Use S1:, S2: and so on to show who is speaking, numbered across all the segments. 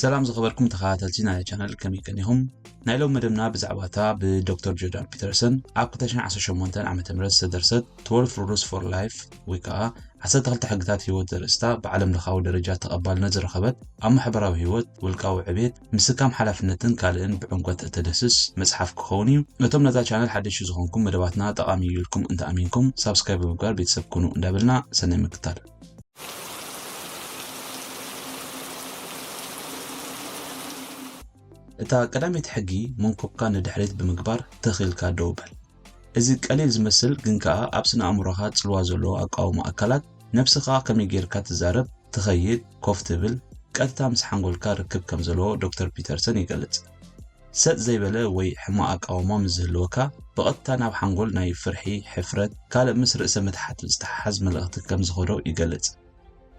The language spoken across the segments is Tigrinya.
S1: ሰላም ዝኸበርኩም ተኸታተልቲ ናይ ቻነል ከመይ ቀኒኹም ናይ ሎም መደብና ብዛዕባ እታ ብዶክተር ጆርዳን ፒተርሰን ኣብ 218 ዓ ም ዝተደርሰት 12 ሩሉስ ፎር ላይፍ ወይ ከዓ 12 ሕግታት ህይወት ዘርእስታ ብዓለም ለኻዊ ደረጃ ተቐባልነት ዝረኸበት ኣብ ማሕበራዊ ህይወት ውልቃዊ ዕቤት ምስካም ሓላፍነትን ካልእን ብዕምቆት እተደስስ መፅሓፍ ክኸውን እዩ ነቶም ነዛ ቻነል ሓደሽ ዝኾንኩም መደባትና ጠቓሚ እዩ ኢልኩም እንተኣሚንኩም ሳብስክራይብ ብምግባር ቤተሰብ ኩኑ እንዳበልና ሰናይ ምክታል እታ ቀዳመይቲ ሕጊ መንኩብካ ንድሕሪት ብምግባር ትኽ ኢልካ ደው በል። እዚ ቀሊል ዝመስል ግን ከኣ ኣብ ስነ ኣእምሮኻ ጽልዋ ዘለዎ ኣቃውማ ኣካላት ነብስኻ ከመይ ጌርካ ትዛረብ፣ ትኸይድ፣ ኮፍ ትብል፣ ቀጥታ ምስ ሓንጎልካ ርክብ ከም ዘለዎ ዶክተር ፒተርሰን ይገልጽ። ሰጥ ዘይበለ ወይ ሕማቕ ኣቃውማ ምስ ዝህልወካ፣ ብቐጥታ ናብ ሓንጎል ናይ ፍርሒ፣ ሕፍረት፣ ካልእ ምስ ርእሰ ምትሓት ዝተሓሓዝ መልእኽቲ ከም ዝኸዶ ይገልጽ።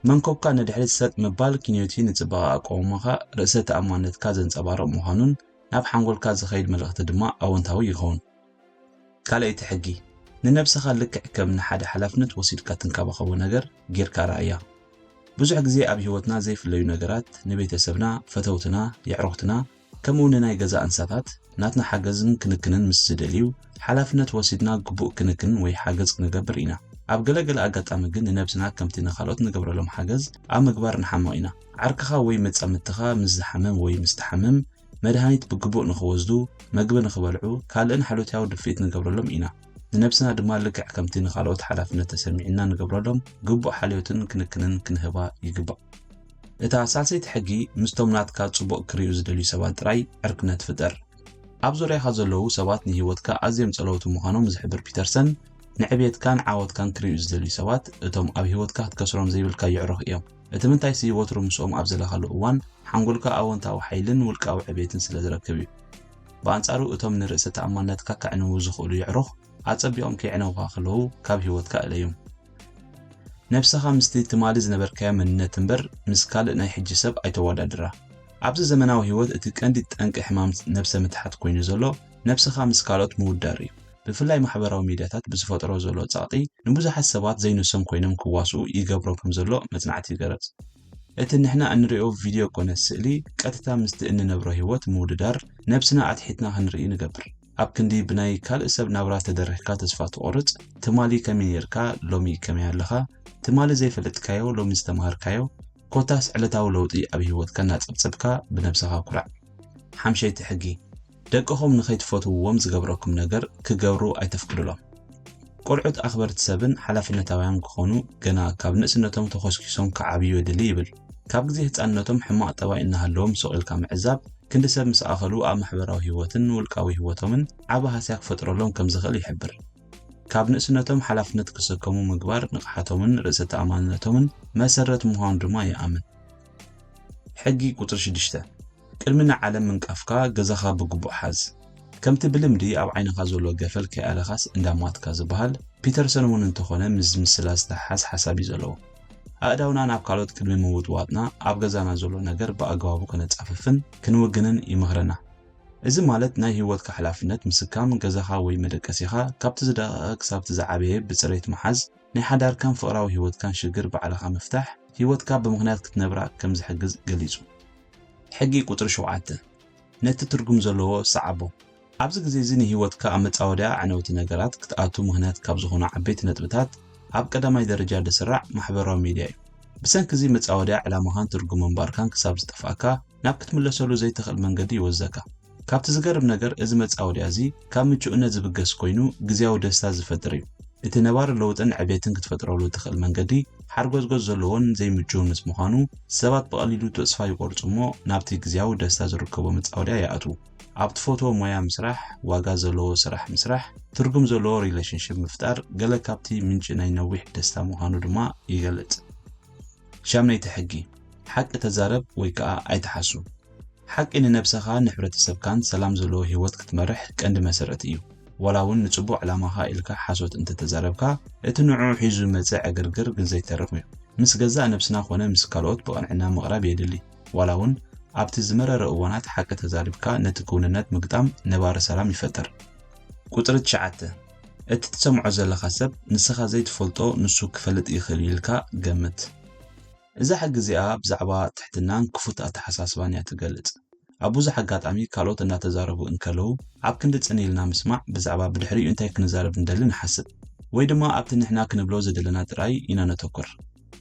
S1: መንኮብካ ንድሕሪት ሰጥ ምባል ኪንዮ'ቲ ንጽባቐ ኣቃውማኻ፣ ርእሰ ተኣማንነትካ ዘንጸባርቕ ምዃኑን ናብ ሓንጎልካ ዝኸይድ መልእኽቲ ድማ ኣወንታዊ ይኸውን። ካልኣይቲ ሕጊ፣ ንነብሰኻ ልክዕ ከም ንሓደ ሓላፍነት ወሲድካ ትንከባኸቦ ነገር ጌርካ ርኣያ። ብዙሕ ግዜ ኣብ ህይወትና ዘይፍለዩ ነገራት፣ ንቤተሰብና፣ ፈተውትና፣ የዕሩኽትና፣ ከምኡ ንናይ ገዛእ እንስሳታት ናትና ሓገዝን ክንክንን ምስ ዝደልዩ፣ ሓላፍነት ወሲድና ግቡእ ክንክን ወይ ሓገዝ ክንገብር ኢና። ኣብ ገለ ገለ ኣጋጣሚ ግን ንነብስና ከምቲ ንኻልኦት ንገብረሎም ሓገዝ ኣብ ምግባር ንሓምቕ ኢና። ዓርክኻ ወይ መጻምድትኻ ምስ ዝሓምም ወይ ምስ ትሓምም፣ መድሃኒት ብግቡእ ንኽወስዱ፣ መግቢ ንኽበልዑ፣ ካልእን ሓሎትያዊ ድፍኢት ንገብረሎም ኢና። ንነብስና ድማ ልክዕ ከምቲ ንኻልኦት ሓላፍነት ተሰሚዑና ንገብረሎም ግቡእ ሓልዮትን ክንክንን ክንህባ ይግባእ። እታ ሳልሰይቲ ሕጊ ምስቶም ናትካ ጽቡቕ ክርእዩ ዝደልዩ ሰባት ጥራይ ዕርክነት ፍጠር። ኣብ ዙርያኻ ዘለዉ ሰባት ንህይወትካ ኣዝዮም ጸለውቲ ምዃኖም ዝሕብር ፒተርሰን፣ ንዕብየትካን ዓወትካን ክርእዩ ዝደልዩ ሰባት እቶም ኣብ ህይወትካ ክትከስሮም ዘይብልካ የዕሩኽ እዮም። እቲ ምንታይሲ ወትሩ ምስኦም ኣብ ዘለኻሉ እዋን ሓንጎልካ ኣወንታዊ ሓይልን ውልቃዊ ዕቤትን ስለ ዝረክብ እዩ። ብኣንጻሩ እቶም ንርእሰ ተኣማንነትካ ከዕንዉ ዝኽእሉ የዕሩኽ ኣጸቢቖም ከየዕነዉኻ ከለዉ ካብ ህይወትካ እለዮም። ነብሰኻ ምስቲ ትማሊ ዝነበርካዮ መንነት እምበር ምስ ካልእ ናይ ሕጂ ሰብ ኣይተወዳድራ። ኣብዚ ዘመናዊ ህይወት እቲ ቀንዲ ጠንቂ ሕማም ነብሰ ምትሓት ኮይኑ ዘሎ ነብስኻ ምስ ካልኦት ምውዳር እዩ። ብፍላይ ማሕበራዊ ሚድያታት ብዝፈጥሮ ዘሎ ጸቕጢ ንብዙሓት ሰባት ዘይንሶም ኮይኖም ክዋስኡ ይገብሮም ከምዘሎ መጽናዕቲ ይገረጽ። እቲ ንሕና እንርእዮ ቪድዮ ኮነ ስእሊ ቀጥታ ምስቲ እንነብሮ ህይወት ምውድዳር ነብስና ኣትሒትና ክንርኢ ንገብር። ኣብ ክንዲ ብናይ ካልእ ሰብ ናብራ ተደሪኽካ ተስፋ ትቖርጽ፣ ትማሊ ከመይ ኔርካ ሎሚ ከመይ ኣለኻ፣ ትማሊ ዘይፈለጥካዮ ሎሚ ዝተማሃርካዮ፣ ኮታስ ዕለታዊ ለውጢ ኣብ ህይወትካ እናጸብጸብካ ብነብስኻ ኩራዕ። ሓምሸይቲ ሕጊ። ደቅኹም ንኸይትፈትውዎም ዝገብረኩም ነገር ክገብሩ ኣይተፍቅዱሎም። ቈልዑት ኣኽበርቲ ሰብን ሓላፍነታውያን ክዀኑ ገና ካብ ንእስነቶም ተዀስኲሶም ክዓብዩ የድሊ ይብል። ካብ ግዜ ህጻንነቶም ሕማቕ ጠባይ እናሃለዎም ሱቕ ኢልካ ምዕዛብ፣ ክንዲ ሰብ ምስ ኣኸሉ ኣብ ማሕበራዊ ህይወትን ውልቃዊ ህይወቶምን ዓቢ ሃስያ ክፈጥረሎም ከም ዝኽእል ይሕብር። ካብ ንእስነቶም ሓላፍነት ክሰከሙ ምግባር ንቕሓቶምን ርእሰ ተኣማንነቶምን መሰረት ምዃኑ ድማ ይኣምን። ሕጊ ቁጽሪ ሽዱሽተ። ቅድሚ ንዓለም ምንቃፍካ ገዛኻ ብግቡእ ሓዝ። ከምቲ ብልምዲ ኣብ ዓይንኻ ዘሎ ገፈል ከይኣለኻስ እንዳ ሟትካ ዝበሃል፣ ፒተርሰን እውን እንተኾነ ምስዚ ምስላ ዝተሓሓዝ ሓሳብ እዩ ዘለዎ። ኣእዳውና ናብ ካልኦት ቅድሚ ምውጥዋጥና ኣብ ገዛና ዘሎ ነገር ብኣገባቡ ከነጻፍፍን ክንውግንን ይመኽረና። እዚ ማለት ናይ ህይወትካ ሓላፍነት ምስካም፣ ገዛኻ ወይ መደቀሲኻ ካብቲ ዝደቐቐ ክሳብቲ ዝዓበየ ብጽሬት ምሓዝ፣ ናይ ሓዳርካን ፍቕራዊ ህይወትካን ሽግር ባዕልኻ ምፍታሕ፣ ህይወትካ ብምኽንያት ክትነብራ ከም ዝሕግዝ ገሊጹ። ሕጊ ቁጽሪ ሸውዓተ ነቲ ትርጉም ዘለዎ ሰዓቦ። ኣብዚ ግዜ እዚ ንህይወትካ ኣብ መጻወድያ ኣዕነውቲ ነገራት ክትኣቱ ምኽንያት ካብ ዝኾኑ ዓበይቲ ነጥብታት ኣብ ቀዳማይ ደረጃ ድስራዕ ማሕበራዊ ሚድያ እዩ። ብሰንኪ እዚ መጻወድያ ዕላማኻን ትርጉም ምንባርካን ክሳብ ዝጠፍኣካ ናብ ክትምለሰሉ ዘይተኽእል መንገዲ ይወስዘካ። ካብቲ ዝገርም ነገር እዚ መጻወድያ እዚ ካብ ምቹእነት ዝብገስ ኮይኑ ግዝያዊ ደስታ ዝፈጥር እዩ። እቲ ነባሪ ለውጥን ዕቤትን ክትፈጥረሉ እትኽእል መንገዲ ሓርጎዝጎዝ ዘለዎን ዘይምቹውን ምስ ምዃኑ ሰባት ብቐሊሉ ተጽፋ ይቖርጹ እሞ ናብቲ ግዝያዊ ደስታ ዝርከቦ መጻወድያ ይኣትዉ። ኣብ ትፈትዎ ሞያ ምስራሕ፣ ዋጋ ዘለዎ ስራሕ ምስራሕ፣ ትርጉም ዘለዎ ሪለሽንሽፕ ምፍጣር ገለ ካብቲ ምንጪ ናይ ነዊሕ ደስታ ምዃኑ ድማ ይገልጽ። ሻምነይቲ ሕጊ፣ ሓቂ ተዛረብ ወይ ከኣ ኣይትሓሱ። ሓቂ ንነብሰኻ ንሕብረተሰብካን ሰላም ዘለዎ ሂወት ክትመርሕ ቀንዲ መሰረት እዩ። ዋላ ውን ንጽቡቕ ዕላማኻ ኢልካ ሓሶት እንተተዛረብካ እቲ ንዕዑ ሒዙ ዝመጽእ ዕግርግር ግን ዘይተርፍ እዩ። ምስ ገዛእ ነብስና ኮነ ምስ ካልኦት ብቕንዕና ምቕራብ የድሊ። ዋላ ውን ኣብቲ ዝመረረ እዋናት ሓቂ ተዛሪብካ ነቲ ክውንነት ምግጣም ነባሪ ሰላም ይፈጥር። ቁጽሪ ትሽዓተ፣ እቲ ትሰምዖ ዘለኻ ሰብ ንስኻ ዘይትፈልጦ ንሱ ክፈልጥ ይኽእል እዩ ኢልካ ገምት። እዛ ሕጊ እዚኣ ብዛዕባ ትሕትናን ክፉት ኣተሓሳስባን እያ እትገልጽ። ኣብ ብዙሕ ኣጋጣሚ ካልኦት እናተዛረቡ እንከለዉ ኣብ ክንዲ ጽን ኢልና ምስማዕ ብዛዕባ ብድሕሪኡ እንታይ ክንዛረብ ንደሊ ንሓስብ። ወይ ድማ ኣብቲ ንሕና ክንብሎ ዝደለና ጥራይ ኢና ነተኩር።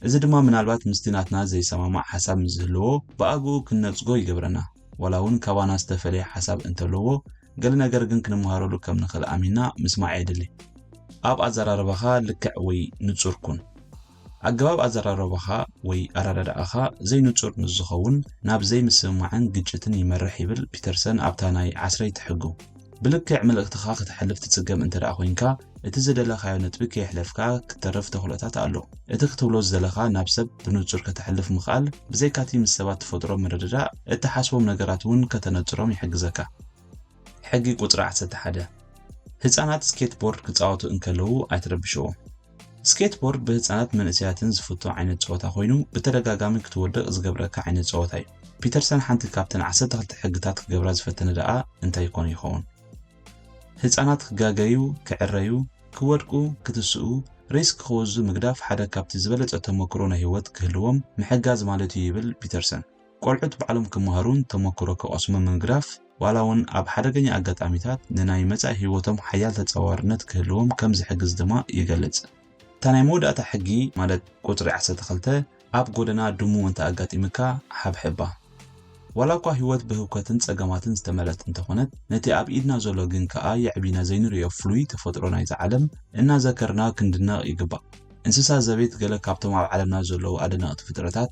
S1: እዚ ድማ ምናልባት ምስቲ ናትና ዘይሰማማዕ ሓሳብ ምስ ዝህልዎ ብኣግኡ ክንነጽጎ ይገብረና። ዋላ እውን ካባና ዝተፈለየ ሓሳብ እንተለዎ ገለ ነገር ግን ክንመሃረሉ ከም ንኽእል ኣሚንና ምስማዕ የድሊ። ኣብ ኣዘራርባኻ ልክዕ ወይ ንጹር ኩን። ኣገባብ ኣዘራርባኻ ወይ ኣረዳድኣኻ ዘይንጹር ምስ ዝኸውን ናብ ዘይምስምማዕን ግጭትን ይመርሕ ይብል ፒተርሰን ኣብታ ናይ ዓስረይቲ ሕጉ። ብልክዕ መልእኽትኻ ከተሕልፍ ትጽገም እንተድኣ ኮይንካ፣ እቲ ዝደለኻዮ ነጥቢ ከየሕለፍካ ክትተርፍ ተኽእሎታት ኣሎ። እቲ ክትብሎ ዝደለኻ ናብ ሰብ ብንጹር ከተሕልፍ ምኽኣል ብዘይካ'ቲ ምስ ሰባት ትፈጥሮ ምርድዳእ፣ እትሓስቦም ነገራት እውን ከተነጽሮም ይሕግዘካ። ሕጊ ቁጽሪ ዓሰርተ ሓደ፣ ህጻናት ስኬትቦርድ ክጻወቱ እንከለዉ ኣይትረብሽዎም። ስኬትቦርድ ብህጻናትን መንእሰያትን ዝፍቶ ዓይነት ጸወታ ኰይኑ፣ ብተደጋጋሚ ክትወድቕ ዝገብረካ ዓይነት ጸወታ እዩ። ፒተርሰን ሓንቲ ካብተን ዓሰርተ ክልተ ሕግታት ክገብራ ዝፈተነ ደኣ እንታይ ኰን ይኸውን? ህጻናት ክጋገዩ፣ ክዕረዩ፣ ክወድቁ፣ ክትስኡ፣ ሪስክ ክወስዱ ምግዳፍ ሓደ ካብቲ ዝበለጸ ተመክሮ ናይ ህይወት ክህልዎም ምሕጋዝ ማለት'ዩ ይብል ፒተርሰን። ቆልዑት ባዕሎም ክመሃሩን ተመክሮ ክቐስሙን ምግራፍ፣ ዋላ እውን ኣብ ሓደገኛ ኣጋጣሚታት ንናይ መጻኢ ህይወቶም ሓያል ተጻዋርነት ክህልዎም ከም ዝሕግዝ ድማ ይገልጽ። እታ ናይ መወዳእታ ሕጊ ማለት ቁጽሪ ዓሰርተ ክልተ ኣብ ጎደና ድሙ እንተ ኣጋጢምካ ሓብሕባ። ዋላ እኳ ህይወት ብህውከትን ጸገማትን ዝተመልአት እንተ ኾነት፣ ነቲ ኣብ ኢድና ዘሎ ግን ከኣ የዕቢና ዘይንርእዮ ፍሉይ ተፈጥሮ ናይዛ ዓለም እናዘከርና ክንድነቕ ይግባእ። እንስሳ ዘቤት ገለ ካብቶም ኣብ ዓለምና ዘለዉ ኣደነቕቲ ፍጥረታት፣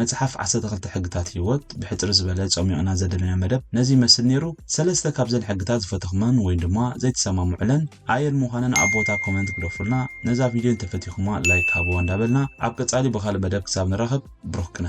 S1: መጽሓፍ ዓሰርተ ክልተ ሕግታት ሂወት ብሕጽር ዝበለ ጸሚቕና ዘደለና መደብ ነዚ ይመስል ኔሩ ሰለስተ ካብዘን ሕግታት ዝፈተኹመን ወይ ድማ ዘይትሰማምዑለን ኣየን ምዃነን ኣብ ቦታ ኮመንት ግደፉልና ነዛ ቪድዮ እንተፈቲኹማ ላይክ ሃብዋ እንዳበልና ኣብ ቀጻሊ ብኻልእ መደብ ክሳብ ንራኸብ ብሩኽ ቅነ